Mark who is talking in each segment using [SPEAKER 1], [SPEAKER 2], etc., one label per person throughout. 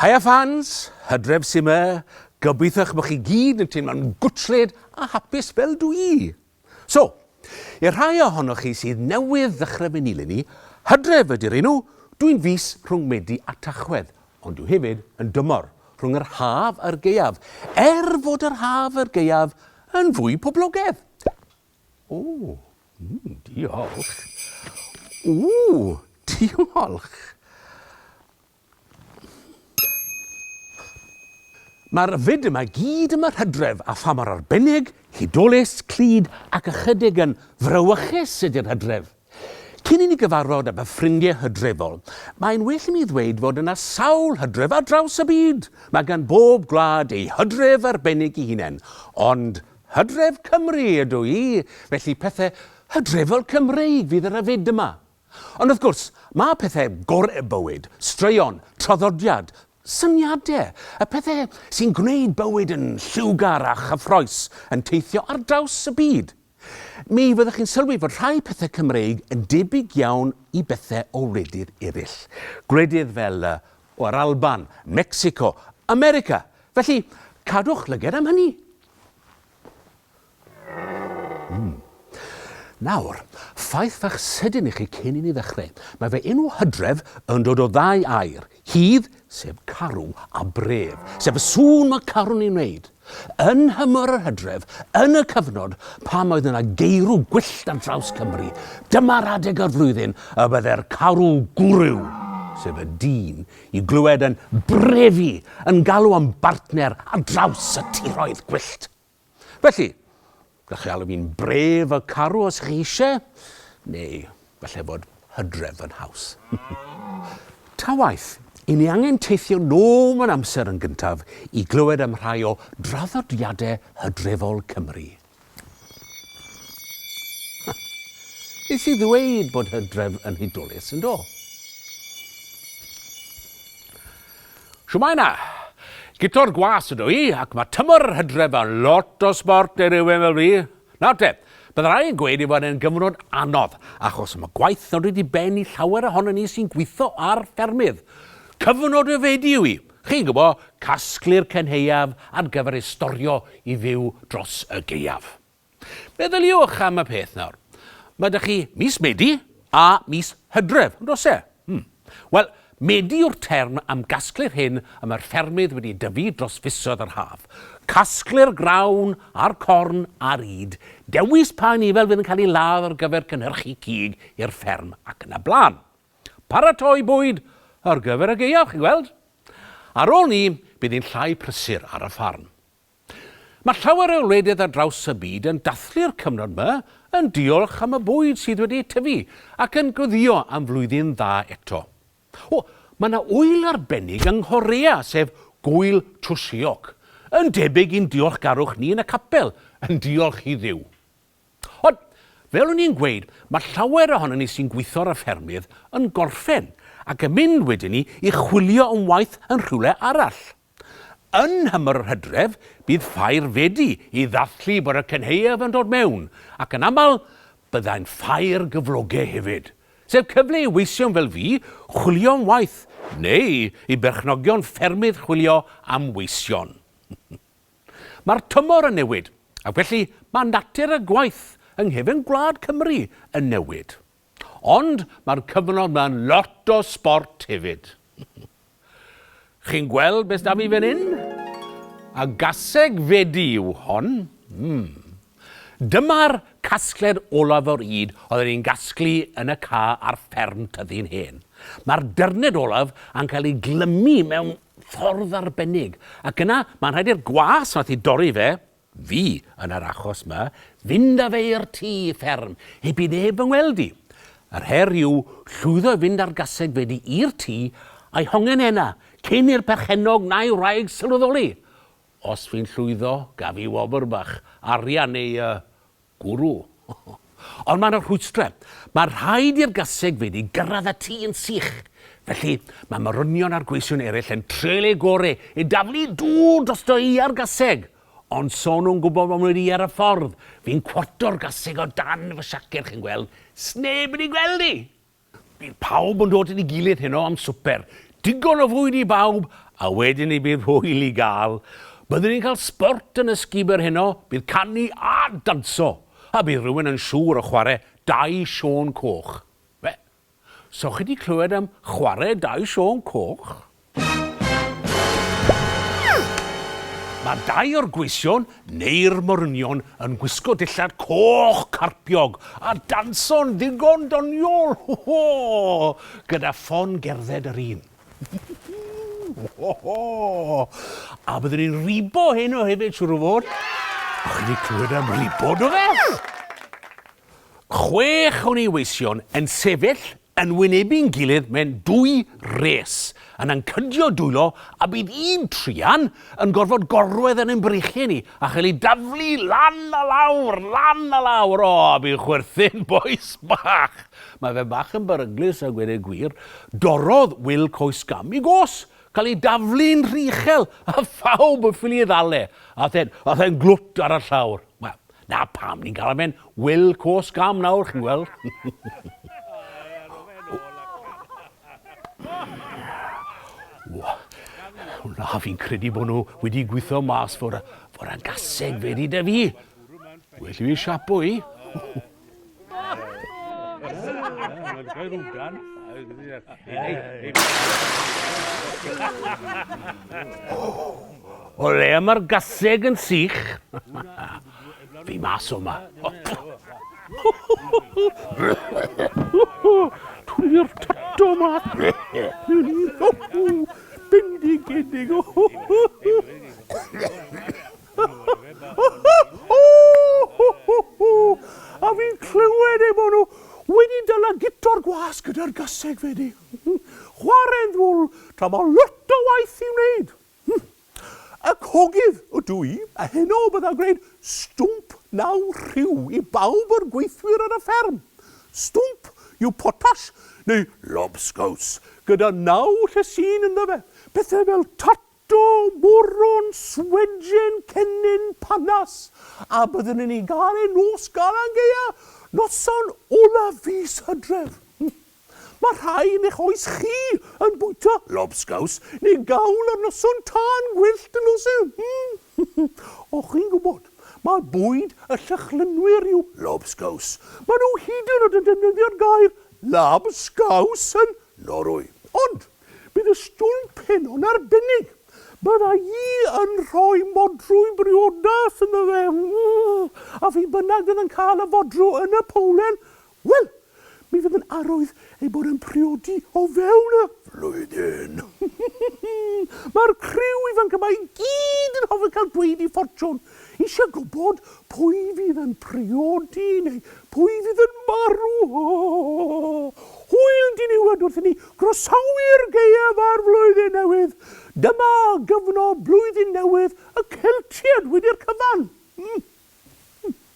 [SPEAKER 1] Haia fans, hydref sy'n me, gobeithiwch bod chi gyd yn teimlo'n gwtled a hapus fel dwi. So, i'r rhai ohonoch chi sydd newydd ddechrau fy nilyn i, Hydref ydy'r enw, dw i'n fis rhwng Medi a Tachwedd, ond dw hefyd yn dymor, rhwng yr haf a'r gaeaf, er fod yr haf a'r gaeaf yn fwy poblogedd. O, mm, diolch. Ww, diolch. Mae'r fyd yma i gyd yn fy hydref, a pha mor arbennig, hudolus, clyd ac ychydig yn frawychus ydy'r hydref! Cyn i ni gyfarfod â fy ffrindiau hydrefol, mae'n well i mi ddweud fod yna sawl hydref ar draws y byd! Mae gan bob gwlad ei hydref arbennig i hunain, ond hydref Cymru ydw i, felly pethau hydrefol Cymreig fydd ar y fyd yma. Ond wrth gwrs, mae pethau gorau bywyd, straeon, traddodiad, syniadau, y pethau sy'n gwneud bywyd yn lliwgar a chyffroes, yn teithio ar draws y byd. Mi fyddwch chi'n sylwi fod rhai pethau Cymreig yn debyg iawn i bethau o wledydd eraill. Gwledydd fel y, o, yr Alban, Mecsico, America. Felly, cadwch lyged am hynny. Mm. Nawr, ffaith fach sydyn i chi cyn i ni ddechrau. Mae fy enw Hydref yn dod o ddau air, hydd, sef carw, a bref, sef y sŵn mae carw'n ei wneud. Yn nhymor yr hydref, yn y cyfnod pan oedd yna geirw gwyllt ar draws Cymru, dyma'r adeg o'r flwyddyn y byddai'r carw gwryw, sef y dyn, i glywed yn brefu, yn galw am bartner ar draws y tiroedd gwyllt. Felly, gallwch chi alw fi'n brave a carw os chi eisiau, neu falle fod hydref yn haws. Ta waeth, i ni angen teithio nôl mewn amser yn gyntaf i glywed am rhai o draddodiadau hydrefol Cymru. Nes i ddweud bod hydref yn hudolus, yn do? Shwmae 'na! Guto'r gwas ydw i, ac mae tymor yr hydref yn lot o sbort i rywun fel fi. Nawr te, bydd rhai yn gweud ei fod e'n gyfnod anodd, achos mae gwaith yn dod i ben i llawer ohonon ni sy'n gweithio ar ffermydd. Cyfnod ryfedu yw hi, chi'n gwybod, casglu'r cenheuaf ar gyfer ei storio i fyw dros y gaeaf. Meddyliwch am y peth nawr. Mae 'da chi mis Medi a mis Hydref, yn does e? Hmm. Wel, Medi yw'r term am gasglu'r hyn y mae'r ffermydd wedi dyfu dros fisoedd yr haf. Casglu'r grawn a'r corn a'r ŷd, dewis pa anifail fydd yn cael ei ladd ar gyfer cynhyrchu cig i'r fferm ac yn y blaen. Paratoi bwyd ar gyfer y gaeaf, chi'n gweld? Ar ôl 'ny, bydd hi'n llai prysur ar y ffarm. Mae llawer o wledydd ar draws y byd yn dathlu'r cyfnod yma yn diolch am y bwyd sydd wedi tyfu ac yn gweddïo am flwyddyn dda eto. O, mae yna ŵyl arbennig yng Nghorea, sef Gŵyl Chuseok, yn debyg i'n diolchgarwch ni yn y capel, yn diolch i Dduw. Ond, fel o'n i'n gweud, mae llawer ohonon ni sy'n gweithio ar y ffermydd yn gorffen ac yn mynd wedyn ni i chwilio am waith yn rhywle arall. Yn nhymor yr hydref, bydd ffair wedi i ddathlu bod y cynhaeaf yn dod mewn, ac yn aml, byddai'n ffair gyfloge hefyd. Sef cyfle i weision fel fi chwilio am waith, neu i berchnogion ffermydd chwilio am weision. Mae'r tymor yn newid, ac felly mae natur y gwaith yng nghefn gwlad Cymru yn newid. Ond mae'r cyfnod ma'n lot o sbort hefyd. Chi'n gweld beth da fi fan hyn? A gaseg fedi yw hon. Mm. Dyma'r casgled olaf o'r ŷd oedden ni'n gasglu yn y ca ar fferm Tyddyn Hen. Mae'r dyrned olaf yn cael ei glymu mewn ffordd arbennig, ac yna mae'n rhaid i'r gwas nath i dorri fe fi yn yr achos 'ma, fynd â fe i'r tŷ fferm heb i neb fy ngweld i. Yr her yw llwyddo i fynd â'r gaseg wedi i'r tŷ a'i hongen ena, cyn i'r perchennog na'i wraig sylweddoli. Os fi'n llwyddo, gaf fi wobr bach, arian neu yy Gwrw. Ond mae yna rhwystrau. Mae rhaid i'r gasegfeydd i gyrraedd y tŷ yn sych. Felly, mae morynion a'r gweision eraill yn treial eu gore i daflu dŵr drosto i ar gaseg. Ond so nhw'n gwybod fod wedi i ar y ffordd, fi'n cwarto'r gaseg o dan fy siaced, chi'n gweld. Sneb wedi gweld i! Bydd pawb yn dod at ei gilydd heno am swper. Digon o fwyd i bawb, a wedyn ni bydd hwyl i gael. Byddwn ni'n cael sbort yn y sgubor heno, bydd canu a danso, a bydd rhywun yn siŵr o chwarae Dau Siôn Coch. Be? So chi 'di clywed am chwarae Dau Siôn Coch? Mae dau o'r gweision, neu'r morynion, yn gwisgo dillad coch carpiog a danso'n ddigon doniol, ho ho! gyda ffon gerdded yr un. ho ho! A byddwn ni'n ribo heno hefyd, siwr o fod. O'ch chi wedi clywed am ribo, do fe? Chwech o neweision yn sefyll yn wynebu'n gilydd mewn dwy res, yn ancydio dwylo a bydd un truan yn gorfod gorwedd yn ein breichiau ni a chael ei daflu lan a lawr, lan a lawr. O, fi'n chwerthin, bois bach! Mae fe bach yn beryglus a gweud y gwir. Dorrodd Wil coes gam i gos, cael ei daflu'n rhy uchel a phawb yn ffili ei ddal e. Aeth e'n glwt ar y llawr. Wel, 'Na pam ni'n galw fe'n Wil Cwsg Am nawr, chi'n gweld. Na, fi'n credu bod nhw wedi gweithio mas fod, fod yn gaseg fe di da fi. Well i fi siapo i. O le mae'r gaseg yn sych? Fi mas o ma. Tuli'r tato ma. Bendigedig. A fi'n clywed eu bod nhw wedi dyla gitor gwas gyda'r gaseg fedi. Chware'n ddwl tra mae lot o waith i'w wneud. Y cogydd ydw i, a heno bydda gwneud stwmp naw rhyw i bawb o'r gweithwyr ar y fferm. Stwmp yw potash neu lobscows gyda naw llysin ynddo fe, pethau fel tot Do, moron, swedjen, cennin, panas, a byddwn yn ei gael e nos Galan Gaeaf, noson olaf fis Hydref. Mae rhai yn eich oes chi yn bwyta lobsgaws neu gawl ar noson tân gwyllt yn nos Sul. O, chi'n gwybod, mae bwyd y Llychlynwyr yw lobsgaws. Maen nhw hyd yn oed yn defnyddio'r gair 'labskaus' yn Norwy. Ond, Bydd y stwlc peno'n arbennig. Bydda i yn rhoi modrwy briodas ynddo fe. A phi bynnag fydd yn cael y fodrw yn y powlen, wel, mi fydd yn arwydd ei bod yn priodi o fewn y flwyddyn. Mae'r criw ifanc yma i gyd yn hoffi cael dweud i ffortiwn. Eisiau gwybod pwy fydd yn priodi neu pwy fydd yn marw? Hwyl diniwed wrth i ni groesawu'r gaeaf a'r flwyddyn newydd! Dyma gyfnod blwyddyn newydd y Celtiaid wedi'r cyfan!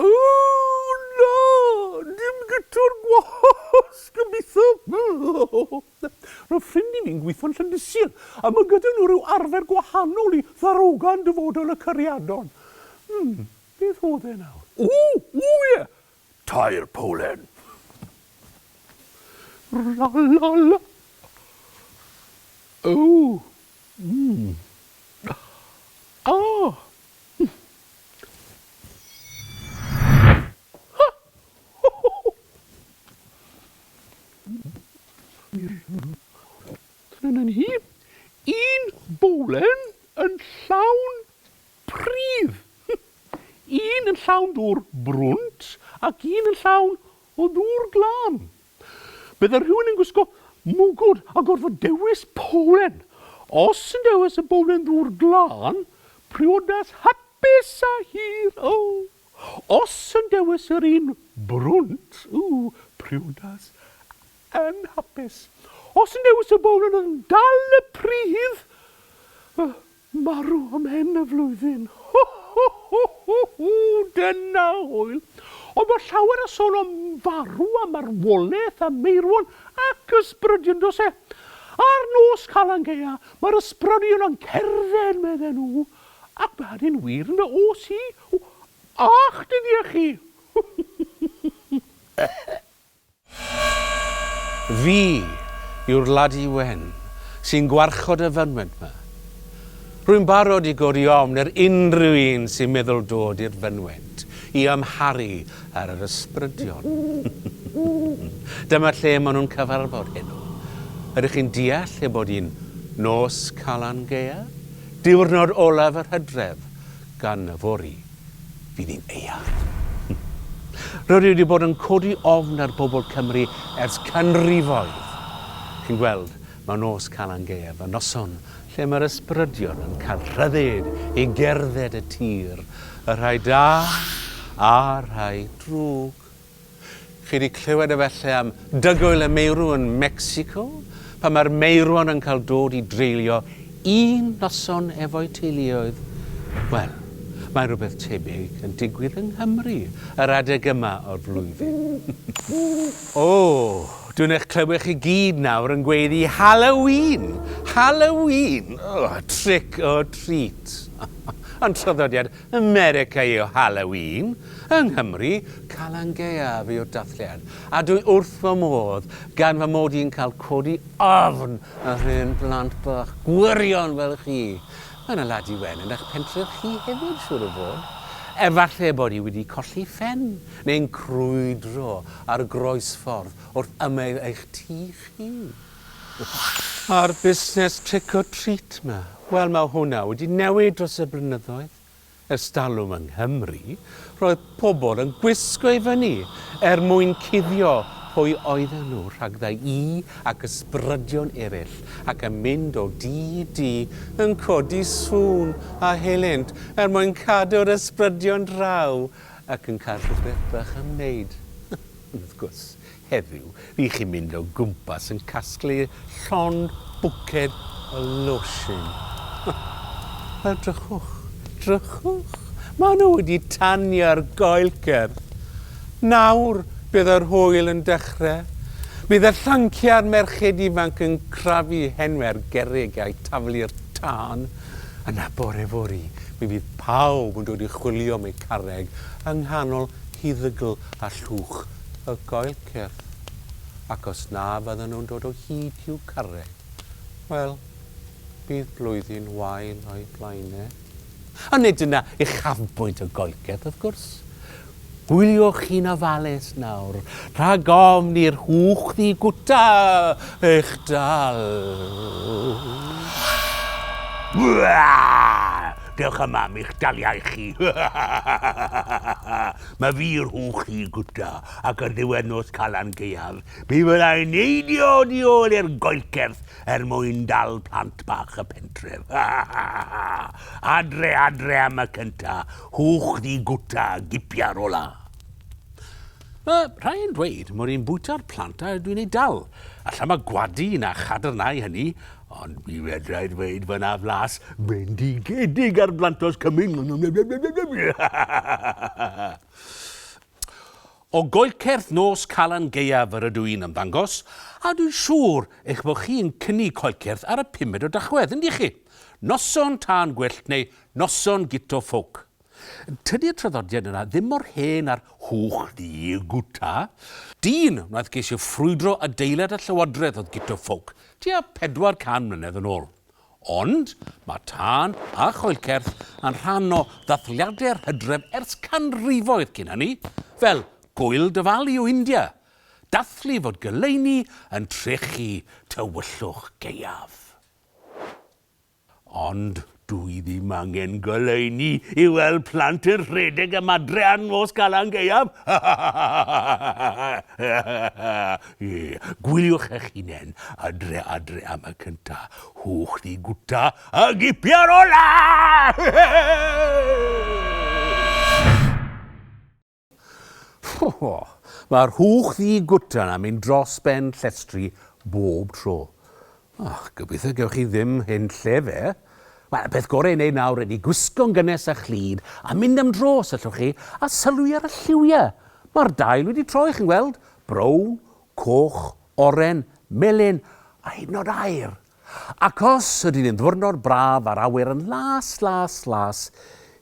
[SPEAKER 1] Ooh na! Dim gitwr gwasg gobeithio! Roedd ffrind i fi'n gweithio'n Llandysir a mae gyda nhw rhyw arfer gwahanol i ddarogan dyfodol y Cariadon. Hmm, beth oedd e nawr? Ooh! Ooh ie! Tair powlen! La la la! Ooh! Mmm! Ah! Trynan hi un bowlen yn llawn pridd, un yn llawn dŵr brwnt ac un yn llawn O ddŵr glân! Bydde rhywun yn gwisgo mwgwd a gorfod dewis powlen. Os yn dewis y bowlen ddŵr glân, priodas hapus a hir, oh! Os yn dewis yr un brwnt, ooh, priodas anhapus. Os yn dewis y bowlen oedd yn dal y pridd, oh! Marw ym mhen y flwyddyn. Ho ho ho ho ho! Dyna hwyl! Ond bod llawer o sôn am farw a marwolaeth a meirwon ac ysbrydion does e? Ar nos Calan Gaea mae'r ysbrydion yn cerdded medden nhw ac mae hynny'n wir yn fy oes i. Ych dyddie chi! Fi yw'r ladi wen sy'n gwarchod y fynwent 'ma. Rwy'n barod i godi ofn ar unrhyw un sy'n meddwl dod i'r fynwent i amharu ar yr ysbrydion. Dyma lle maen nhw'n cyfarfod heno. Ydych chi'n deall ei bod hi'n Nos Calan Gaeaf? Diwrnod olaf yr hydref, gan yfory. fydd hi'n eang. Rydw i wedi bod yn codi ofn ar bobl Cymru ers canrifoedd. Chi'n gweld, mae nos Calan Gaeaf yn noson lle mae'r ysbrydion yn cael rhyddid i gerdded y tir, y rhai da a'r rhai drwg. Chi wedi clywed efallai am dygwyl y meirw yn Mecsico, pan mae'r meirwon yn cael dod i dreulio un noson efo'u teuluoedd? Wel, mae rhywbeth tebyg yn digwydd yng Nghymru yr adeg yma o'r flwyddyn. O, dwi'n eich clywed chi gyd nawr yn gweiddi 'Halloween! Halloween! O, trick or treat! Ond traddodiad America yw Halloween, yng Nghymru, Calan Gaeaf yw'r dathliad, a dwi wrth fy modd gan fy mod i'n cael codi ofn ar hen blant bach gwirion fel chi. Mae 'na ladi wen yn eich pentre'r chi hefyd, siŵr o fod. Efalle bod hi wedi colli phen, neu'n crwydro ar groesffordd wrth ymyl eich tŷ chi. A'r busnes trick or treat 'ma? Wel, mae hwnna wedi newid dros y blynyddoedd. Ers talwm yng Nghymru, roedd pobl yn gwisgo i fyny er mwyn cuddio pwy oedden nhw rhagddai i ac ysbrydion eraill ac yn mynd o dŷ i dŷ yn codi sŵn a helynt er mwyn cadw'r ysbrydion draw ac yn cael rhywbeth bach am wneud. Ond wrth gwrs, Heddiw, rych chi'n mynd o gwmpas yn casglu llond bwced o losin. Wel, drychwch, drychwch. Maen nhw wedi tanio'r goelcer. Nawr, bydd yr hwyl yn dechrau. Bydd y llanciau a'r merched ifanc yn crafu hen fer gerrig a'u taflu'r tân. Yna, bore fory, mi fydd pawb yn dod i chwilio am eu carreg yng nghanol huddygl a llwch y goel cyrff, ac os na fyddan nhw'n dod o hyd i'w carreg, wel, bydd blwyddyn wael o'u blaen e. Ond nid yna uchafbwynt y goel cyrff, wrth gwrs. Hwyliwch chi'n ofalus nawr, rhag ofn i'r hwch ddigwta eich dal. Dewch yma am eich daliau chi. Mae fi rhwng chi gwta ac ar ddiwedd nos Calan Gaeaf, mi fydda i'n neidio oddi ôl i'r goelcerth er mwyn dal plant bach y pentref. Adre, adre am y cynta, hwch ddi gwta, gipia'r ola. Mae rhai yn dweud mod i'n bwyta'r plant a dwi'n eu dal. Alla mae gwadu na chadarnhau hynny, Ond mi fedrai ddweud fy na flas bendigedig ar blantos cymyn. O goelcerth nos Calan Gaeaf yr ydw i'n ymddangos, a dwi'n siŵr eich bod chi yn cynnig coelcerth ar y pumed o Dachwedd, yndych chi? Noson tân gwyllt neu noson guto ffowc. Tydi'r traddodiad yna ddim mor hen â'r hwch di gwta. Dyn wnaeth geisio ffrwydro adeilad y llywodraeth oedd Guto Ffowc tua 400 mlynedd yn ôl. Ond mae tân a choelcerth yn rhan o ddathliadau'r hydref ers canrifoedd cyn hynny, fel Gŵyl Diwali o India, dathlu fod goleuni yn trechu tywyllwch gaeaf. Ond dw i ddim angen goleuni i weld plant yn rhedeg am adre ar nos Calan Gaeaf! Gwyliwch eich hunain adre adre am y cynta, hwch ddi gwta a gipia'r ola! Rho! Mae'r hwch ddi gwtan am mynd dros ben llestri bob tro. O, gobeithio gewch chi ddim hen lle fe. Wel, y peth gorau i wneud nawr ydy gwisgo'n gynnes a chlyd a mynd am dro os allwch chi, a sylwi ar y lliwiau. Mae'r dail wedi troi, chi'n gweld, brown, coch, oren, melyn a hyd yn oed aur. Ac os ydy'n un ddwrnod braf a'r awyr yn las, las, las,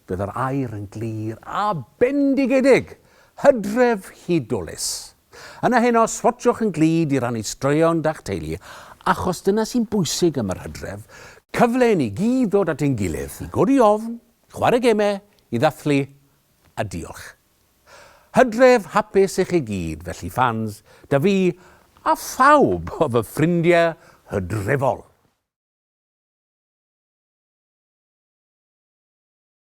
[SPEAKER 1] bydd yr aer yn glir a bendigedig, hydref hudolus. Yna heno, swatshwch yn glyd i rannu straeon da'ch teulu, achos dyna sy'n bwysig am yr hydref, cyfle i ni gyd ddod at ein gilydd, i godi ofn, i chwarae gemau, i ddathlu, a diolch. Hydref hapus i chi gyd felly fans da fi a phawb o fy ffrindie hydrefol.